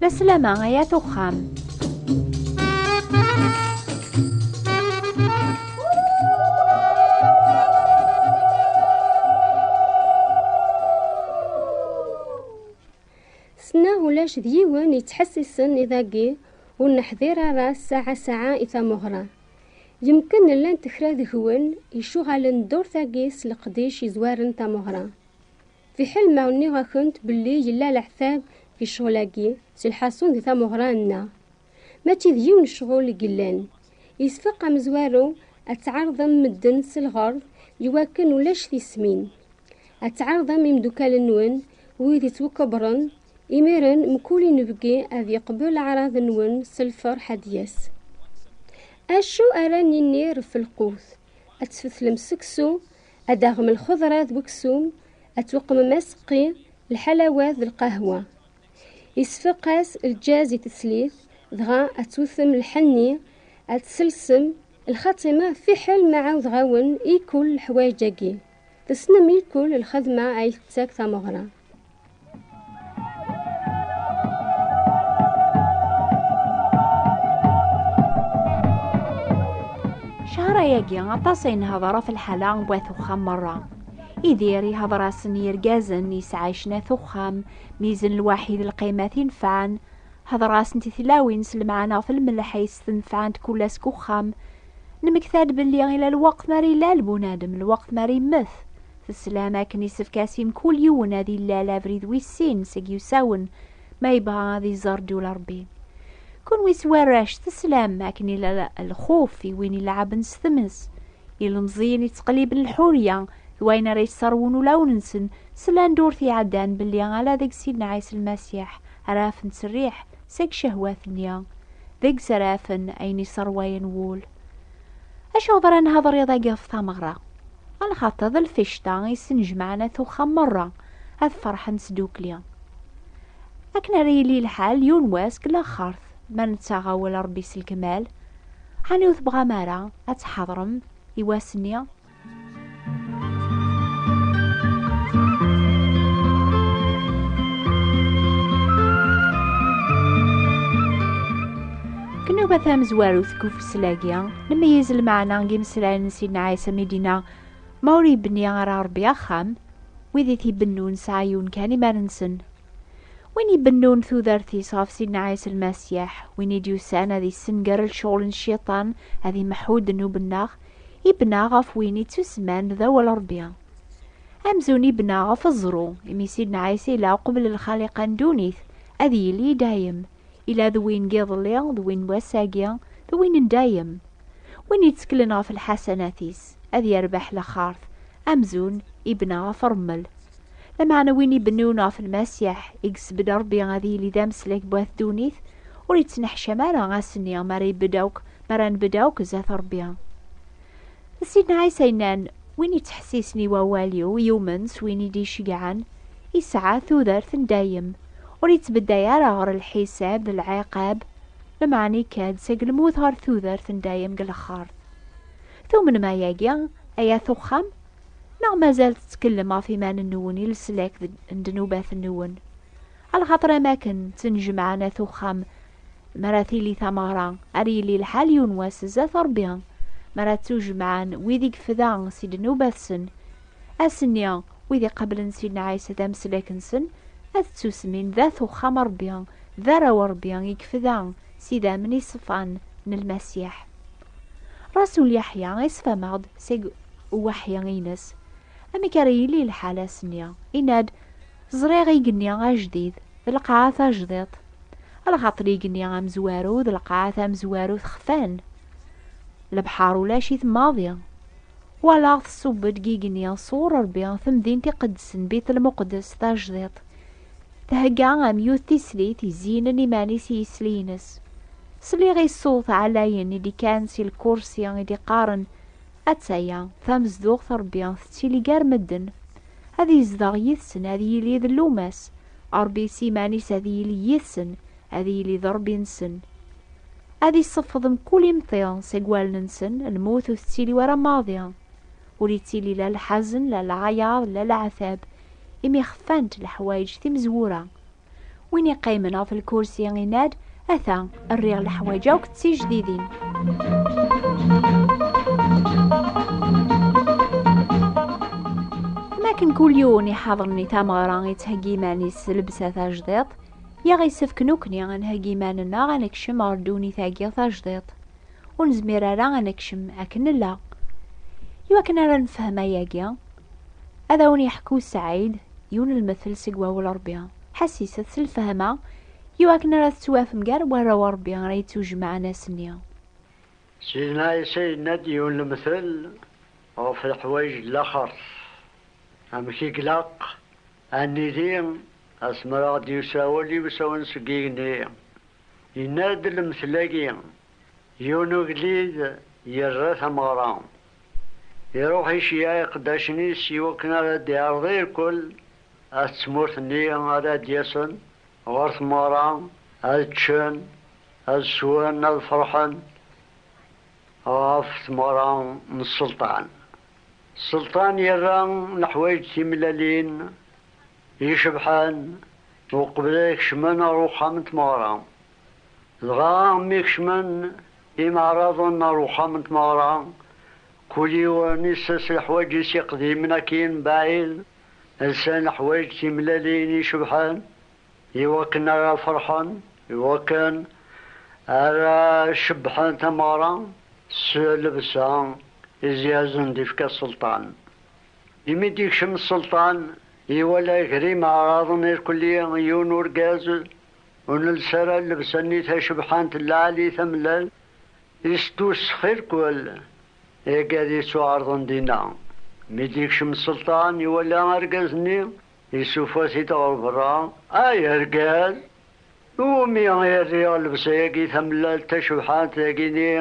La sslam-a ay at uxxam. Ssneɣ ulac d yiwen yettḥessisen i dagi ur neḥdir ara ssaɛa ssaɛa i tameɣra. Yemken llant kra deg-wen icuɣalen ddurt-agi s leqdic yezwaren tameɣra. Fiḥel ma nniɣ-akent belli yella leɛtab di ccɣel-agi s lḥasun di tameɣra-nneɣ, mačči d yiwen ccɣel i yellan, yesfeq amezwaru ad tɛerḍem medden s lɣerḍ iwakken ulac tismin. Ad tɛerḍem imdukal-nwen wid yettwakebren Imiren mkul inebgi ad yeqbel aɛraḍ-nwen s lferḥ ad d-yas. Acu ara nini ɣef lqut? Ad tfetlem seksu, ad d-taɣem lxeḍra d weksum, ad tweqmem aseqqi, lḥalawat d lqahwa. Isfeq-as lǧaz i teslit, dɣa ad twtem lḥenni, ad tselsem, lxatima fiḥel ma ɛawdeɣ-awen i kul leḥwayeǧ-agi. Tessnem ilkul lxedma ay tettak tameɣra. Cahra-agi aṭas ay nehder ɣef lḥala n wat uxxam merra. Idir ihder-asen yirgazen yesɛaycen at uxxam, mizen lwaḥid lqimat inefɛen, hder-asent i tlawin s lemɛana ɣef lmelḥ ay s-tenefɛent kul ass deg uxxam, Nemekta-d belli ila lweqt mi ara ilal bunadem, lweqt mi ara immet. Teslam akken isefk-as i mkul yiwen ad ilal abrid wis sin seg yusawen ma yebɣa ad iẓer ddula Rebbi. Kunwi s warrac teslam akken ila lxuf i win ileɛɛben s tmes, ilemẓiyen ittqelliben lḥurya d wayen ara yesserwun ulawen-nsen, slan-d ur t-iɛeddan belli ala deg Sidna Ɛisa Lmasiḥ ara afen ttserriḥ, seg ccehwat-nni, deg srafen ayen isserwayen wul. Acuɣer ara nehder iḍ-agi ɣef tameɣra? A lxaṭer d lficṭa i ssenjemɛen at uxxam merra ad ferḥen sdukli. Akken ara yili lḥal yiwen wass deg laxert ma nettaɣ awal Rebbi s lkmal, ɛni ur tebɣam ara ad tḥadrem i wass-nni? Kennuba tamezwarut deg ufeslagi, nemeyyez lmeɛna n yimeslayen n Sidna Ɛisa mi d-yenna ma ur yebni ara Rebbi axxam, wid i t-ibennun sɛa yiwen kan iman-nsen. Win ibennun tudert-is ɣef Sidna Ɛisa Lmasiḥ, win i d-yusan ad yessenger lecɣal n Cciṭan, ad imeḥḥu ddnub-nneɣ, Ibna ɣef win i ttuseman d awal Ṛebbi. Amzun ibna ɣef ẓẓru, imi Sidna Ɛisa ila uqbel lxaliqa n ddunit, ad yili i dayem. Ila d win n yiḍelli, d win n wass-agi, d win n dayem. Win itteklen ɣef lḥasanat-is, ad yerbeḥ laxart, amzun ibna ɣef ṛṛmel. Lameɛna win ibennun ɣef Lmasiḥ, i yessebded Ṛebbi ad yili d ameslak n wat ddunit, ur ittneḥcam ara ass-nni mi ara ibedd akk mi ara nbedd akk zdat Ṛebbi. D Sidna Ɛisa yennan, Win yettḥessisen i wawal-iw, yumen s win i d-iceyyɛen, yesɛa tudert n dayem, ur yettbedday ara ɣer lḥisab d lɛiqab, lmeɛna ikka-d seg lmut ɣer tudert n dayem deg lexxart. Tumnem ayagi, ay at uxxam? Neɣ mazal tettkellem ɣef yiman-nwen i leslak n ddnubat-nwen? Alxaṭer am akken ttnejmaɛen at uxxam mi ara tili tameɣra, ar yili lḥal yiwen wass zdat Ṛebbi, mi ara ttujemɛen wid i yefda si ddnubat-sen. Ass-nni, wid iqablen Sidna Ɛisa d ameslak-nsen, ad ttusmin d at uxxam n Ṛebbi, d arraw n Ṛebbi i yefda s idammen iṣefan n Lmasiḥ. Rasul Yeḥya iṣef-ameɣ-d seg uweḥyi-ines. Amek ara yili lḥal ass-nni? Yenna-d. Ẓriɣ igenni ajdid, d lqaɛa tajdiḍt. Lxaṭer igenni amezwaru, d lqaɛa tamezwarut xfan. Lebḥer ulac-it maḍi. Walaɣ tṣubb-d deg igenni sɣur Rebbi temdint iqedsen Bitel Muqeddes tajdiḍt. Thegga am yiwet tislit izeynen iman-is i yisli-ines. Sliɣ i ṣṣut ɛlayen i d-ikkan si lkursi i d-iqqaren Attaya, tamezduɣt Ṛebbi tettili gar medden, ad yezdeɣ yid-sen, ad yili d llumas, Ṛebbi s yiman-is ad yili yid-sen, ad yili d Ṛebbi-nsen. Ad iseffeḍ mkul imṭi seg wallen-nsen, lmut ur tettili wara maḍi. Ur ittili la lḥazen, la lɛayaḍ, la leɛtab, imi xfant leḥwayeǧ timezwura, Win iqqimen ɣef lkursi inad, ata rriɣ leḥwaǧ akk d tijdidin. Makken kul yiwen iḥaḍen i tameɣra yettheggi iman-is s lebsa tajdiḍt, yaɣ isefk nukni ad nheggi iman-nneɣ ad nekcem ɣer ddunit-agi tajdiḍt. Ur nezmir ara ad nekcem akken nella. Iwakken ara nefhem ayagi, Ad awen yeḥku Sɛid yiwen lmettel seg wawal n Rebbi. Ḥassiset s lfehma i wakken ara tettwafem gar warraw n Rebbi ara yettujemɛen ass-nni. Sidna Ɛisa yenna-d yiwen lemtel ɣef leḥwayeǧ n laxert, amek i glaq ad nili asmi ara ɣ-d-yusa wal iwsawen seg yigenni. Yenna-d lemtel-agi, yiwen ugellid yerra tameɣra Iruḥ iceyyeɛ iqeddacen-is i wakken ara d-iɛreḍ irkul at tmurt-nni ara d-yasen ɣer tmeɣra, ad ččen, ad swen, ad ferḥen ɣef tmeɣra n sselṭan. Sselṭan yerra leḥwayeǧ timellalin icebḥen uqbel ad kecmen ɣer uxxam n tmeɣra. Dɣa mi kecmen imeɛraḍen ɣer uxxam n tmeɣra, kul yiwen isess leḥwaǧ-is iqdimen akkin mebɛid, lsan leḥwaǧ timellalin icebḥen iwakken ara ferḥen, iwakken ara cebbḥen tameɣra s llebsa i zyazen d-ifka sselṭan. Imi d-ikcem sselṭan, iwala gar imeɛraḍen irkelli yiwen urgaz, Ur nels ara llebsa-nni tacebḥant n lɛali tamellal, isdus xirkwel, eg ad yettuɛerḍen dinna. Mi d-yekcem Selṭan, iwala argaz-nni, isufa-t-id ɣer berra, Ay argaz! Iwumi i rriɣ llebsa-yagi tamellalt tacebḥant dagi-nni?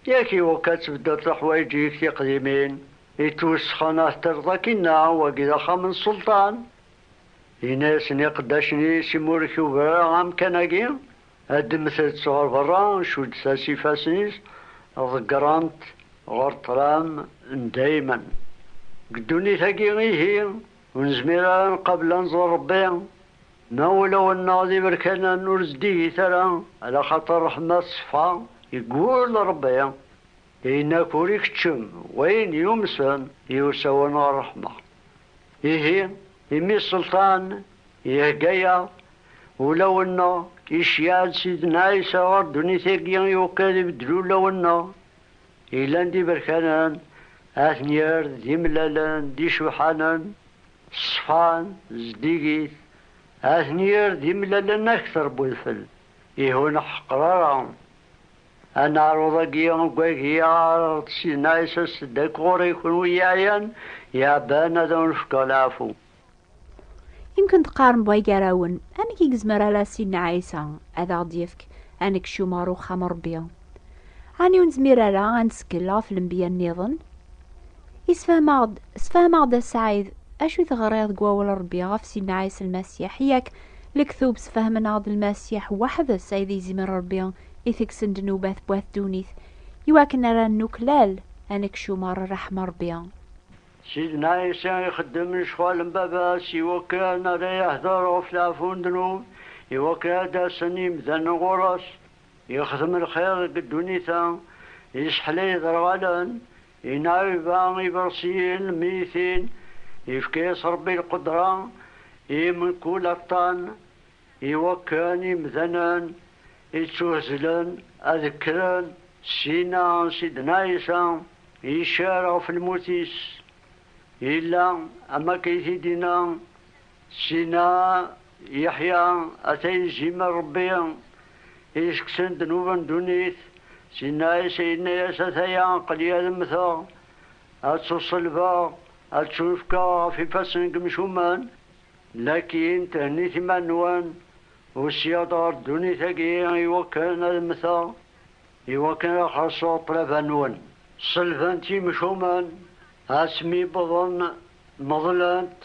Yak iwekka ad tbeddleḍ leḥwayeǧ-ik tiqdimin i ttwesxen ad t-terreḍ akkin-a, wagi d axxam n Selṭan, Yenna-yasen i iqeddacen-is, Imi ur tugi ara amkan-agi, addmet-tt ɣer berra, cuddet-as ifassen-is, ḍeggren-t ɣer ṭṭlam n daymen. Deg ddunit-agi ihi, ur nezmir ara ad nqabel ad nẓer Ṛebbi, ma ulawen-nneɣ d iberkanen, ur zeddigit ara, ala xaṭer ṛṛeḥma teṣfa, yeggul Ṛebbi Ayen akk ur ikeččem, wayen yumsen, iwsawen ɣer ṛṛeḥma. Ihi, imi Ṣṣelṭan ihegga-yaɣ ulawen-nneɣ, iceyyeɛ-d Sidna Ɛisa ɣer ddunit-agi iweqqi ad ibeddel ulawen-nneɣ yellan d iberkanen, ad ten-yerr d imellalen, d icebḥanen, ṣṣfan, zeddigit, ad ten-yerr d imellalen akter n wedfel, ihi ur neḥqer ara Aneɛruḍ-agi uggag i aɣ-d syenna isas-d akk ɣur-i kunwi yeɛyan yeɛban ad awen-fkeɣ leɛfu. Yemken teqqarem way gar-awen, amek i yezmer ala Sidna Ɛisa ad aɣ-d-yefk ad nekcum ɣer uxxam n Rebbi? Ɛni ur nezmir ara ad nettkel ɣef lenbiya nniḍen? Yessefhem-aɣ-d, sefhem-aɣ-d a Ssaɛid, acu i teɣriḍ deg wawal n Rebbi ɣef Sidna Ɛisa Lmasiḥ, yak Lektub sefhemen-aɣ-d Lmasiḥ weḥd-s ay d izimer n Rebbi, i tegsen ddnubat n wat ddunit, i wakken ara nuklal ad nekcumer rreḥma n Rebbi. Sidna Ɛisa ixeddem lecɣal n Baba-s i wakken ara yehder ɣef leɛfu n ddnub, i wakken ad d-asen yimdanen ɣur-s. Yexdem lxir deg ddunit-a, yesseḥlay iderɣalen, yenɛiba iberṣiyen, lmeytin, yefka-yas Rebbi lqedra i mkul aṭṭan, Iwakken imdanen ittuhezlen ad kkren syin-a Sidna Ɛisa icar ɣef lmut-is, yella am wakken i t-id-yenna Sidna Yeḥya, Ata izim n Rebbi isekksen ddnub n ddunit. Sidna Ɛisa yenna-yas, Ataya, aql-i ad mmteɣ, ad ttuṣelbeɣ, ad ttunefkeɣ ɣef ifassen n yemcumen. Lakin thennit iman-nwen, usiɣ-d ɣer ddunit-agi iwakken ad mmteɣ, iwakken ad xellṣeɣ ṭṭlaba-nwen. Ṣelbent yimcumen, asmi wwḍen meḍlent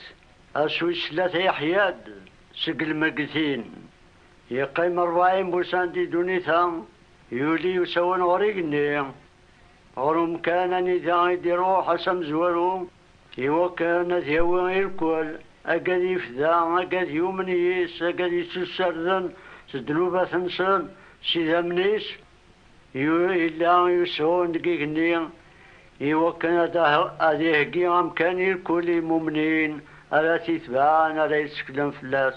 ass wis tlata yeḥya-d seg lmeggtin. Yeqqim rebɛin wussan di ddunit-a, yuli usawen ɣer igenni, ɣer umkan anida i d-iruḥ ass amezwaru. Iwakken ad yawi irkwel, agad ifda, agad yumen yis, agad ittussarden s ddnubat-nsen s idammen-is, yella yusɣun deg igenni iwakken ad iheggi amkan irkwel i imumnin ara t-itebɛen, ara yetteklen fell-as.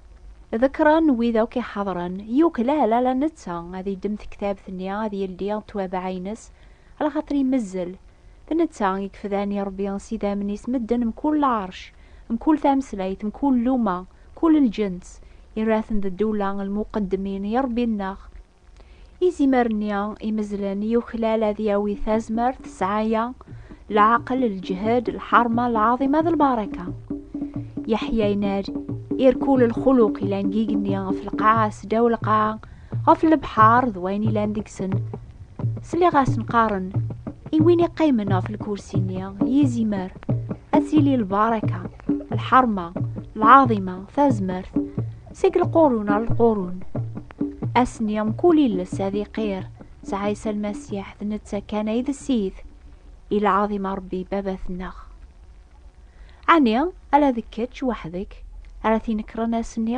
Ḍekren wid akk iḥadren, yuklal ala netta ad iddem tektabt-nni ad yeldi ttwabaɛ-ines, ala xaṭer imezzel. D netta i yefdan i Ṛebbi s idammen-is medden mkul lɛerc, mkul tameslayt, mkul luma, mkul lǧens, yerra-ten d ddula lmuqeddemin i Ṛebbi-nneɣ. Izimer-nni imezlen yuklal ad yawi tazmert, sɛaya, lɛaqel, lǧhed, lḥerma, lɛaḍima d lbaraka. Yeḥya yenna-d, irkul lxuluq ilan deg igenni, ɣef lqaɛa, seddaw lqaɛa, ɣef lebḥar d wayen ilan deg-sen. Sliɣ-asen qqaren, i win iqqimen ɣef lkursi-nni, yizimer, ad tili lbaraka. lḥerma lɛaḍima tazmert seg lqurun ar lqurun asni mkul iles ad iqir sɛisa lmasiḥ d netta kan ay d ssid i lɛaḍima rebbi babat-nneɣ ɛni ala d kečč weḥd-k ara tinekren asni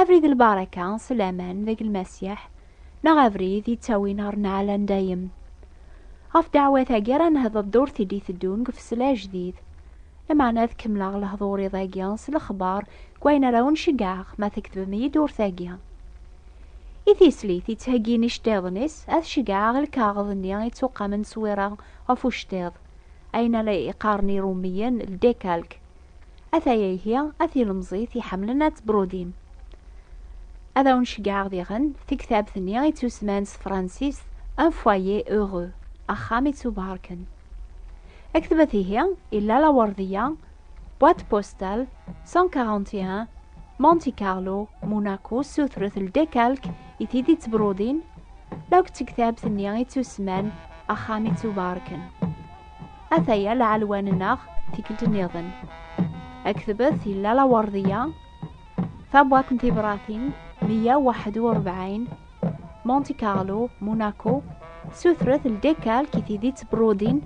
Abrid n lbaraka, s laman deg Lmasiḥ, neɣ abrid yettawin ɣer nneɛla n dayem. Ɣef ddeɛwat-agi ara nehder ddurt i d-iteddun deg ufesla ajdid. Lameɛna ad kemmleɣ lehdur iḍ-agi s lexbar deg wayen ara wen-ceggɛeɣ ma tkettbem-iyi-d ddurt-agi. I tislit yettheggin iceṭṭiḍen-is, ad ceggɛeɣ lkaɣeḍ-nni yettuqamen s wira ɣef uceṭṭiḍ, ayen ara iqqaren Irummiyen ldekalk, Ataya ihi a tilemẓit iḥemmlen ad tebrudim. Ad awen-ceggɛeɣ diɣen tiktabt-nni i tusman s tefransist Un foyer heureux, axxam ittubarken. Aktbet ihi i Lalla Werdiya, boîte postale 141, Monte Carlo, Monaco, sutret ldekalk i tid ittbrudin, la akk d tektabt-nni i tusman Axxam ittubarken. Ataya lɛelwan-nneɣ tikkelt nniḍen. Aktbet yella lawerdiya, tabwaṭ n tibratin 141, Monte Carlo, Monaco, sutret ldekkal ki tidi ttbrudin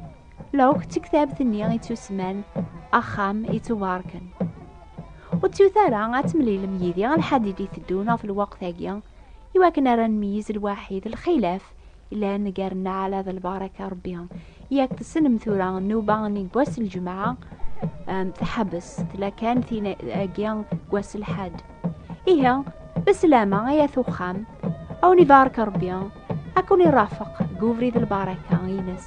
lewk d tektabt-nni i tusman Axxam i tubarken. Ur ttut ara ad temlilem yidi alḥadid iteddun ɣef lweqt-agi, iwakken ara nmeyiz lwaḥid lxilaf llan gar nneɛla d lbaraka rebbi yak tessnem tura nnuba n wass lǧemɛa tḥebbes tella kan tin agi wass lḥad ihi beslama ay at uxxam awen ibarek rebbi akun irafeq deg ubrid lbaraka ines